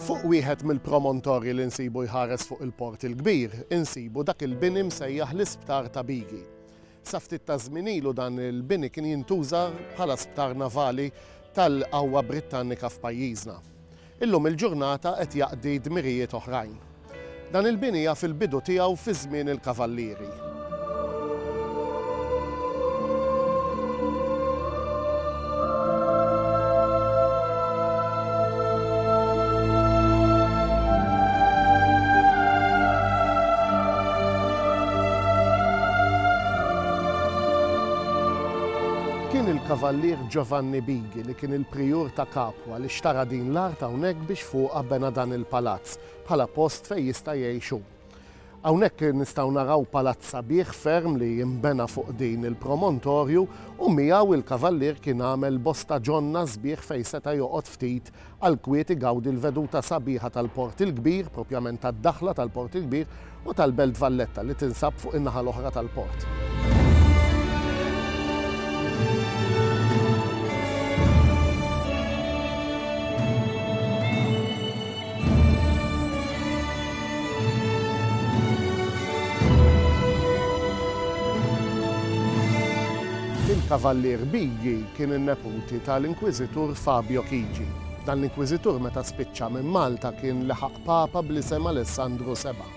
Fuq wieħed mill-promontorji li nsibu jħares fuq il-Port il-Kbir, insibu dak il-bini msejjaħ l-Isptar ta' Bigi. Sa ftit taż-żmien ilu dan il-bini kien jintuża bħala sptar navali tal-qawwa Brittannika f'pajjiżna. Illum il-ġurnata qed jaqdi dmirijiet oħrajn. Dan il-bini jaf il-bidu tiegħu fi żmien il-Kavallieri. Kien il-Kavallier Giovanni Bighi li kien il-Prijur ta' Capua li xtara din l-art hawnhekk biex fuqha bena dan il-palazz. bħala post fejn jista' jgħix hu. Hawnhekk nistgħu naraw palazz sabiħ ferm li nbena fuq din il-promontorju u miegħu l-Kavallier kien għamel bosta ġonna sbieħ fejn seta' joqgħod ftit għall-kwiet igawdi l-veduta sabiħa tal-Port il-Kbir, propjament tad-daħla tal-Port il-Kbir, u tal-Belt Valletta li tinsab fuq in-naħa l-oħra tal-port. Il-Kavallier Bighi kien in-neputi tal-Inkwiżitur Fabio Chigi. Dan l-Inkwiżitur meta spiċċa minn Malta kien leħaq Papa bl-isem Alessandru Seba'.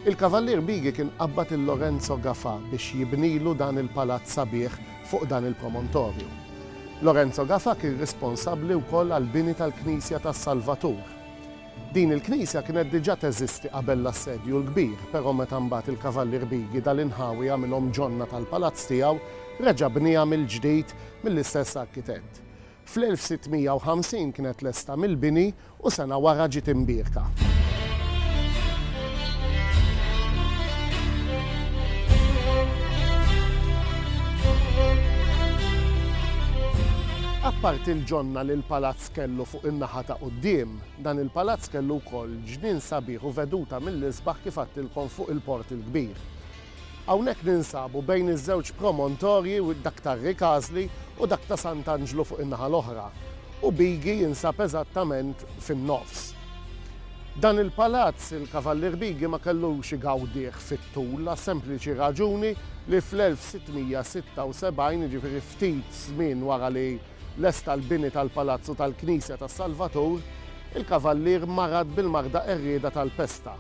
Il-Kavallier Bighi kien qabbad lil Lorenzo Gafà biex jibnilu dan il-palazz sabiħ fuq dan il-promontorju. Lorenzo Gafà kien risponsabbli wkoll għall-bini tal-Knisja tas-Salvatur. Din il-knisja kienet diġà teżisti qabel l-Assedju l-Kbir, però meta mbagħad il-Kavallier Bighi dal-inħawi għamilhom ġonna tal-palazz tiegħu, reġa' bnieha mill-ġdid mill-istess arkitett. Fl-1650 kienet lesta mill-bini u sena wara ġiet imbierka. Apparti l-ġonna li l-palazz kellu fuq in-naħa ta' quddiem, dan il-palazz kellu wkoll ġnien sabiħ u veduta mill-isbaħ kif għedtilkom fuq il-Port il-Kbir. Hawnhekk ninsabu bejn iż-żewġ promontorji, dak ta' Rikasli u dak ta' Sant'Anġlu fuq in-naħa l-oħra, u Bigi jinsab eżattament fin-nofs. Dan il-palazz il-Kavallier Bigi ma kellux igawdih fit-tul għas-sempliċi raġuni li fl-1676, jiġifieri ftit żmien wara li, Lesta l-bini tal-palazz u tal-knisja tas-Salvatur, il-Kavallier marad bil-marda qerrieda tal-pesta.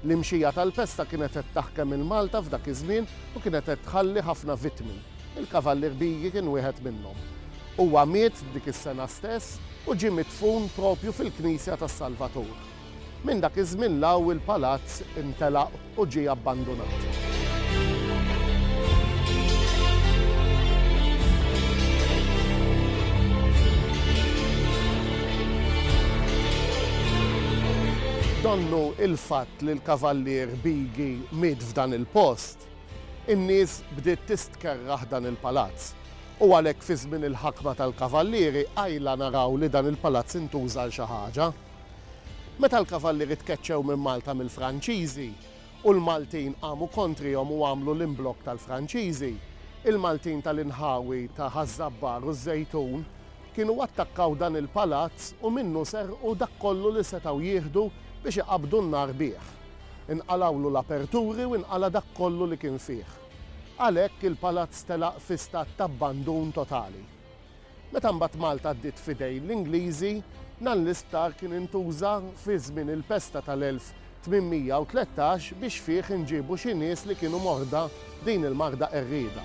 L-imxija tal-pesta kienet qed taħkem il-Malta f'dak iż-żmien u kienet qed tħalli ħafna vittmi. Il-Kavallier Bighi kien wieħed minnhom. Huwa miet dik is-sena stess u ġie midfun propju fil-knisja tas-Salvatur. Minn dak iż-żmien 'l hawn il-palazz intelaq u ġie abbandunat. Donnu il-fatt li l-Kavallier Bighi miet f'dan il-post, in-nies bdiet tistkerrah dan il-palazz u għalhekk fi żmien il-ħakma tal-Kavallieri qajla naraw li dan il-palazz intuża għal xi ħaġa. Meta l-Kavallieri tkeċċew minn Malta mill-Franċiżi u l-Maltin qamu kontrihom u għamlu l-imblokk tal-Franċiżi, il-Maltin tal-inħawi ta' Ħaż-Żabbar u ż-Żejtun kienu attakkaw dan il-palazz u minnu serqu dak kollu li setgħu jieħdu biex iqabbdu n-nar bih. Inqalgħulu l-aperturi u inqala' dak kollu li kien fih. Għalhekk il-palazz telaq fi stat t'abbandun totali. Meta mbagħad Malta għaddiet f'idejn l-Ingliżi, dan l-isptar kien intuża fi żmien il-pesta tal-1813 biex fih inġiebu xi nies li kienu morda b'din il-marda qerrieda.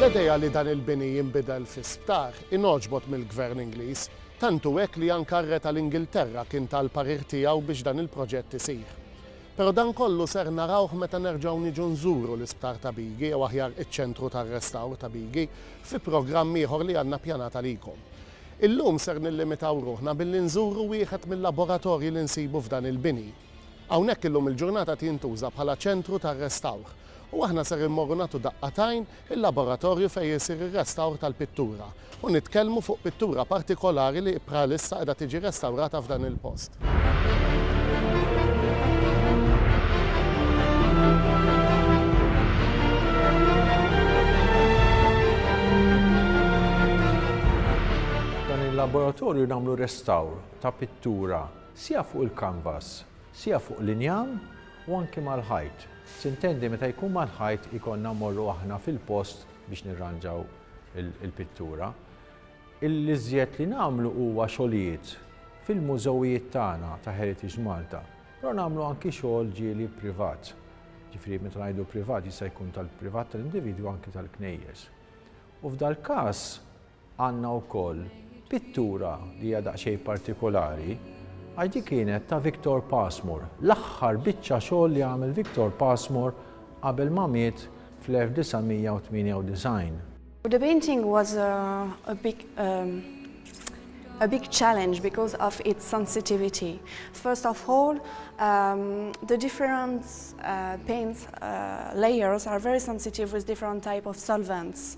L-idea li dan il-bini jinbidel fi sptar ingħoġbot mill-Gvern Ingliż, tant hu hekk li anke r-Re tal-Ingilterra kien ta l-parir tiegħu biex dan il-proġett isir. Però dan kollu ser narawh meta nerġgħu niġu nżuru l-Isptar ta' Bigi jew aħjar iċ-Ċentru tar-Restawr ta' Bigi fi programm ieħor li għandna ppjanat għalikom. Illum ser nillimitaw ruħna billi nżuru wieħed mil-laboratorji li nsibu f'dan il-bini. Hawnhekk illum il-ġurnata tintuża bħala ċentru tar-restawr u aħna ser immorru nagħtu daqqa t'għajn il-laboratorju fejn isir ir-restawr tal-pittura u nitkellmu fuq pittura partikolari li bħalissa qiegħda tiġi restawrata f'dan il-post. Dan il-laboratorju nagħmlu restawr ta' pittura. siha fuq il-kanvas, siha fuq l-injam u anki mal-ħajt. Tintendi meta jkun mal-ħajt ikollna mmorru aħna fil-post biex nirranġaw il-pittura. L-iżjed li nagħmlu huwa xogħlijiet fil-mużewijiet tagħna ta' Heritage Malta, però nagħmlu anki xogħol ġieli privat. Ġifieri meta ngħidu privat jista' jkun tal-privat tal-individwi anki tal-knejjes. U f'dal-każ Għandna wkoll pittura li hija daqsxejn partikolari għax din kienet ta' Victor Passmore, l-aħħar biċċa xogħol li għamel Victor Passmore qabel ma miet fl-1998. The painting was a a big a big challenge because of its sensitivity. First of all, the different paint layers are very sensitive with different type of solvents.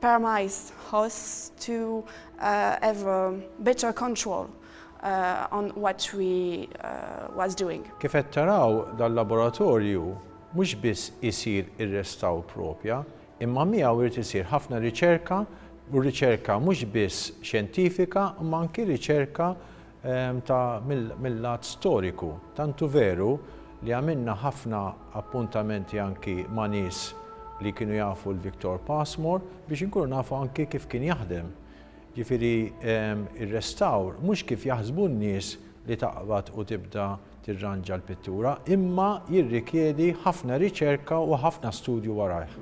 Permajs has to have a better control on what we was doing. Kif qed taraw dan laboratorju mhux biss isir ir-restawr propja imma miegħu irid isir ħafna riċerka u riċerka mhux biss xjentifika imma anki riċerka ta' mill-lat storiku. Tantu veru li għamilna ħafna appuntamenti anki ma' nies li kienu jafu l-Victor Passmore biex inkunu nafu anki kif kien jaħdem. Ġifieri r-restawr mhux kif jaħsbu n-nies li taqbad u tibda tirranġa l-pittura, imma jirrikjedi ħafna riċerka u ħafna studju warajh.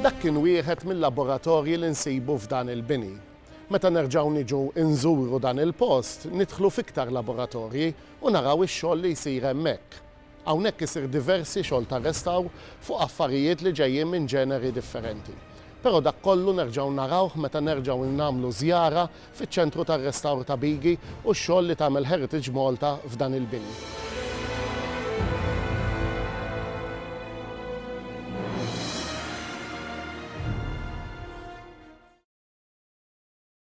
Dak kien wieħed mill-laboratorji li nsibu f'dan il-bini. Meta nerġgħu niġu nżuru dan il-post, nidħlu fiktar laboratorji u naraw ix-xogħol li jsir hemmhekk. Hawnhekk isir diversi xogħol ta' restawr fuq affarijiet li ġejjin minn ġeneri differenti. Però dak kollu nerġgħu narawh meta nerġgħu nagħmlu żjara fiċ-Ċentru tar-Restawr ta' Bigi u x-xogħol li tagħmel Heritage Malta f'dan il-bini.